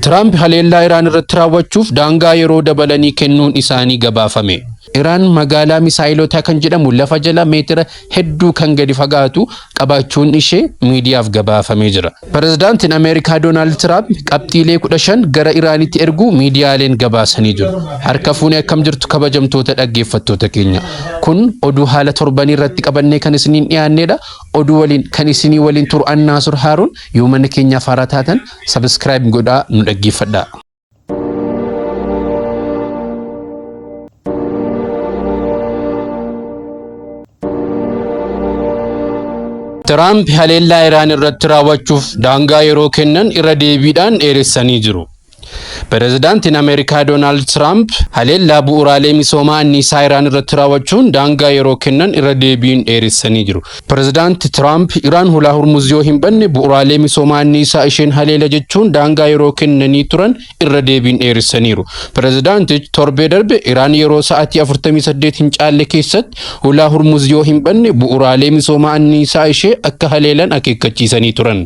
Tiraamp haleellaa Iraan irratti raawwachuuf daangaa yeroo dabalanii kennuun isaanii gabaafame. Iraan magaalaa misaayilotaa kan jedhamu lafa jala meetira hedduu kan gadi fagaatu qabaachuun ishee miidiyaaf gabaafamee jira. Pirezidaantiin Ameerikaa Doonaald Tiraamp qabxiilee 15 gara Iraanitti erguu miidiyaaleen gabaasanii jiru. Harka fuunee akkam jirtu kabajamtoota dhaggeeffattoota keenya. Kun oduu haala torbanii irratti qabannee kan isiniin dhiyaannedha. Oduu waliin kan isinii waliin turu Annaasur Haaruun yoo mana keenyaaf haaraa taatan Subscribe godhaa nu dhaggeeffadhaa. Tiraamp haleellaa Iraan irratti raawwachuuf daangaa yeroo kennan irra deebiidhaan dheeressanii jiru. Pireezidaantiin Ameerikaa Doonaald Tiraamp haleellaa bu'uuraalee misoomaa anniisaa Iraan irratti raawwachuun daangaa yeroo kennan irra deebiin dheeressanii jiru. Pirezidaanti Tiraamp Iraan hulaa Hurmuz yoo hin banne bu'uraalee misoomaa anniisaa isheen haleela jechuun daangaa yeroo kennanii turan irra deebiin dheeressaniiru. Pirezidaantich torbee darbe Iraan yeroo sa'atii 48 hin caalle keessatti hulaa Hurmuz yoo hin banne bu'uraalee misoomaa anniisaa ishee akka haleelan akeekkachiisanii turan.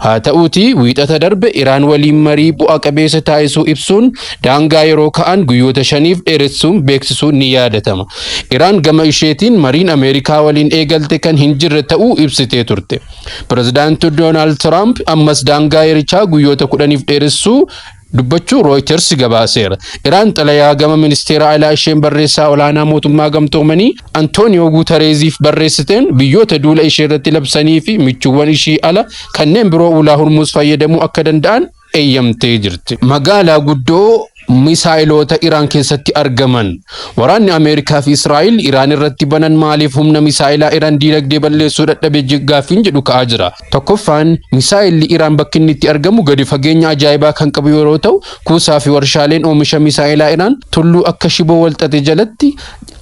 Haa ta'uutii wiixata darbe Iraan waliin marii bu'a qabeessa taasisuu ibsuun daangaa yeroo ka'an guyyoota shaniif dheeressuun beeksisuun ni yaadatama. Iraan gama isheetiin mariin Ameerikaa waliin eegalte kan hin jirre ta'uu ibsitee turte. Pirezidaanti Doonaald Tiraamp ammas daangaa yerichaa guyyoota kudhaniif dheeressuu dubbachuu Rooyiters gabaaseera. Iraan xalayaa gama ministeera alaa isheen barreessaa olaanaa mootummaa gamtoomanii Antooniyoo Guutareeziif barreessiteen biyyoota duula ishee irratti labsanii fi michuuwwan ishii ala kanneen biroo ulaa Hurmuuz fayyadamuu akka danda'an eeyyamtee jirti. Magaalaa guddoo misaa'iloota Iraan keessatti argaman. Waraanni Ameerikaa fi Israa'el Iraan irratti banan maaliif humna misaa'ilaa Iraan diinagdee balleessuu dadhabe gaaffiin jedhu ka'aa jira. Tokkoffaan misaa'illi Iraan bakki inni itti argamu gadi fageenya ajaa'ibaa kan qabu yeroo ta'u kuusaa fi warshaaleen oomisha misaa'ilaa Iraan tulluu akka shiboo walxaxe jalatti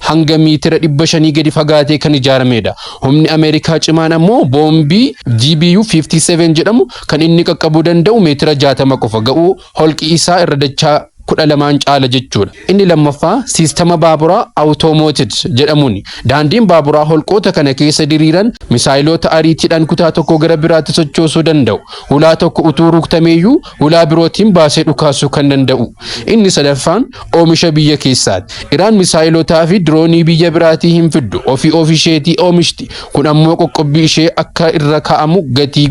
hanga miitira dhibba shanii gadi fagaatee kan ijaaramedha. Humni Ameerikaa cimaan ammoo boombii GBU-57 jedhamu Kan inni qaqqabuu danda'u meetira 60 qofa ga'uu holqi isaa irra dachaa 12n caala jechuudha. Inni lammaffaa siistama baaburaa awutoomooted jedhamuuni. Daandiin baaburaa holqoota kana keessa diriiran misaayiloota ariitiidhaan kutaa tokkoo gara biraatti sochoosuu danda'u. Hulaa tokko utuu ruktameeyyuu hulaa birootiin baasee dhukaasuu kan danda'u. Inni sadaffaan oomisha biyya keessaati. Iraan misaa'ilotaa fi diroonii biyya biraatii hin fiddu. Ofii of isheetii oomishti. Kun ammoo qoqqobbii ishee akka irra kaa'amu gatii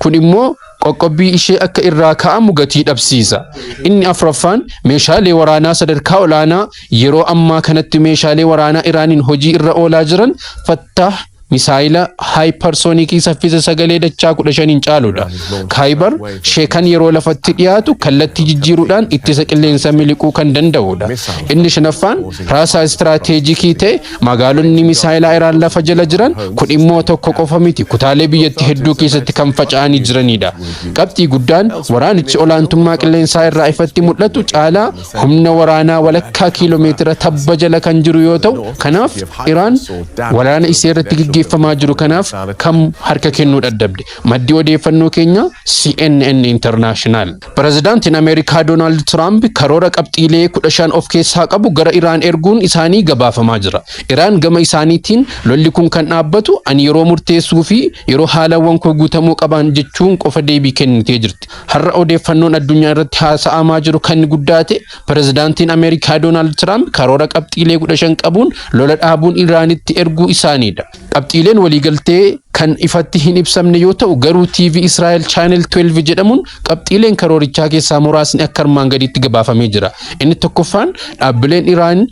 kun immoo qoqqobbii ishee akka irraa kaa'amu gatii dhabsiisa. Inni afraffaan meeshaalee waraanaa sadarkaa olaanaa yeroo ammaa kanatti meeshaalee waraanaa Iraaniin hojii irra oolaa jiran Fattaah Misaayila haayiparsoonikii saffisa sagalee dachaa 15n caaludha. Khaybar sheekan yeroo lafatti dhiyaatu kallattii jijjiiruudhaan ittisa qilleensa miliquu kan danda'udha. Inni shanaffaan raasaa istiraateejikii ta'e magaalonni misaayilaa Iraan lafa jala jiran kun immoo tokko qofa miti kutaalee biyyatti hedduu keessatti kan faca'anii jiranidha. Qabxii guddaan waraanichi olaantummaa qilleensaa irraa ifatti mul'atu caalaa humna waraanaa walakkaa kiiloomeetira tabba jala kan jiru yoo ta'u, kanaaf Iraan waraana isee irratti gaggeeffamaa jiru kanaaf kam harka kennuu dadhabde. Maddi odeeffannoo keenyaa CNN International. Pirezidaantiin Ameerikaa Doonaald Tiraamp karoora qabxiilee 15 of keessaa qabu gara Iraan erguun isaanii gabaafamaa jira. Iraan gama isaaniitiin lolli kun kan dhaabbatu ani yeroo murteessuu fi yeroo haalawwan koo guutamuu qaban jechuun qofa deebii kennitee jirti. Har'a odeeffannoon addunyaa irratti haasa'amaa jiru kan guddaa ta'e pirezidaantiin Ameerikaa Doonaald Tiraamp karoora qabxiilee 15 qabuun lola dhaabuun Iraanitti erguu isaaniidha. Qabxiileen waliigaltee kan ifatti hin ibsamne yoo ta'u garuu TV Israa'el Channel 12 jedhamuun qabxiileen karoorichaa keessaa muraasni akka armaan gadiitti gabaafamee jira. Inni tokkoffaan dhaabbileen Iraan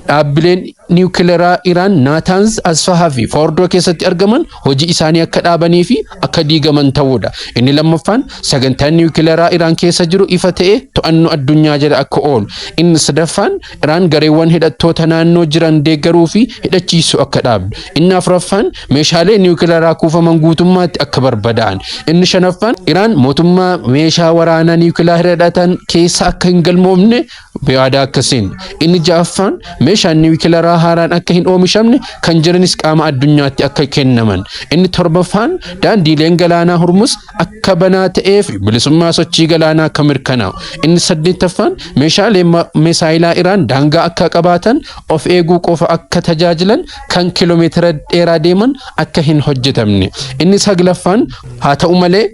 Dhaabbileen niwukilaraa Iraan Naataanz, Asfahaa fi Foordoo keessatti argaman hojii isaanii akka dhaabanii fi akka diigaman ta'uudha. Inni lammaffaan sagantaan niwukilaraa Iraan keessa jiru ifa ta'ee to'annoo addunyaa jala akka oolu. Inni sadaffaan Iraan gareewwan hidhattoota naannoo jiran deeggaruu fi hidhachiisuu akka dhaabdu. Inni afuraffaan meeshaalee niwukilaraa kuufaman guutummaatti akka barbadaa'an. Inni shanaffaan Iraan mootummaa meeshaa waraanaa niwukilaraa hidhatan keessa akka hin galmoofne Yaada akkasiin, inni ja'affaan meeshaan niwukilaraa haaraan akka hin oomishamne kan jiranis qaama addunyaatti akka kennaman, inni torbaffaan daandiileen galaanaa Hurmus akka banaa ta'ee fi bilisummaa sochii galaanaa akka mirkanaa'u, inni saddeettaffaan meeshaaleen misaayilaa Iraan daangaa akka qabaatan, of eeguu qofa akka tajaajilan, kan kilomeetira dheeraa deeman akka hin hojjetamne. Inni saglaffaan haa ta'u malee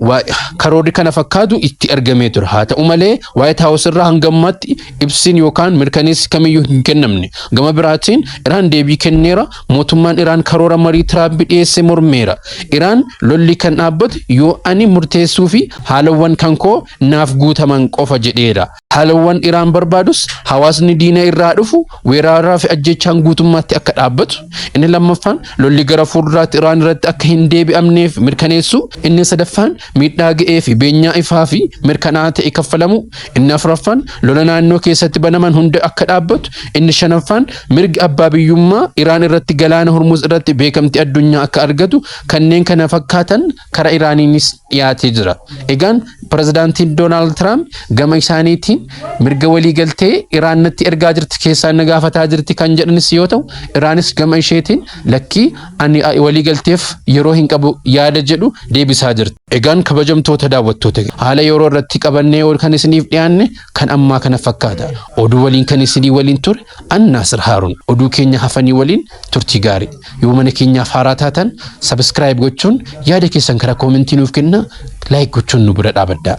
karoorri kana fakkaatu itti ergamee ture. Haa ta'u malee Waayit Haawus irraa hanga ammaatti ibsiin yookaan mirkaneessi kamiyyuu hin kennamne. Gama biraatiin Iraan deebii kenneera. Mootummaan Iraan karoora marii Tiraamp dhiyeesse mormeera. Iraan lolli kan dhaabbatu yoo ani murteessuu fi haalawwan kan koo naaf guutaman qofa jedheera. Haalawwan Iraan barbaadus hawaasni diina irraa dhufu weeraraa fi ajjechaan guutummaatti akka dhaabbatu, inni lammaffaan lolli gara fuulduraatti Iraan irratti akka hin deebi'amneef mirkaneessuu, inni sadaffaan miidhaa ga'ee fi beenyaa ifaa fi mirkanaa'aa ta'e kaffalamuu, inni afuraffaan lola naannoo keessatti banaman hunda akka dhaabbatu, inni shanaffaan mirgi abbaa biyyummaa Iraan irratti Galaana Hormuz irratti beekamtii addunyaa akka argatu kanneen kana fakkaatan kara Iraaniinis dhiyaatee jira. Egaan pirezidaantiin Doonaald Tiraamp gama isaaniitiin mirga waliigaltee Iraan natti ergaa jirti keessaan na gaafataa jirti kan jedhanis yoo ta'u Iraanis gama isheetiin lakkii ani waliigalteef yeroo hin qabu yaada jedhu deebisaa jirti. Egaan kabajamtoota daawwattoota haala yeroo irratti qabannee ol kan isiniif dhiyaanne kan ammaa kana fakkaata. Oduu waliin kan isinii waliin ture An Naasir Haarun. Oduu keenya hafanii waliin turtii gaarii. Yoo mana keenyaaf haaraa taatan subscribe gochuun yaada keessan karaa koomentii nuuf kenna like gochuun nu bira dhaabaddaa.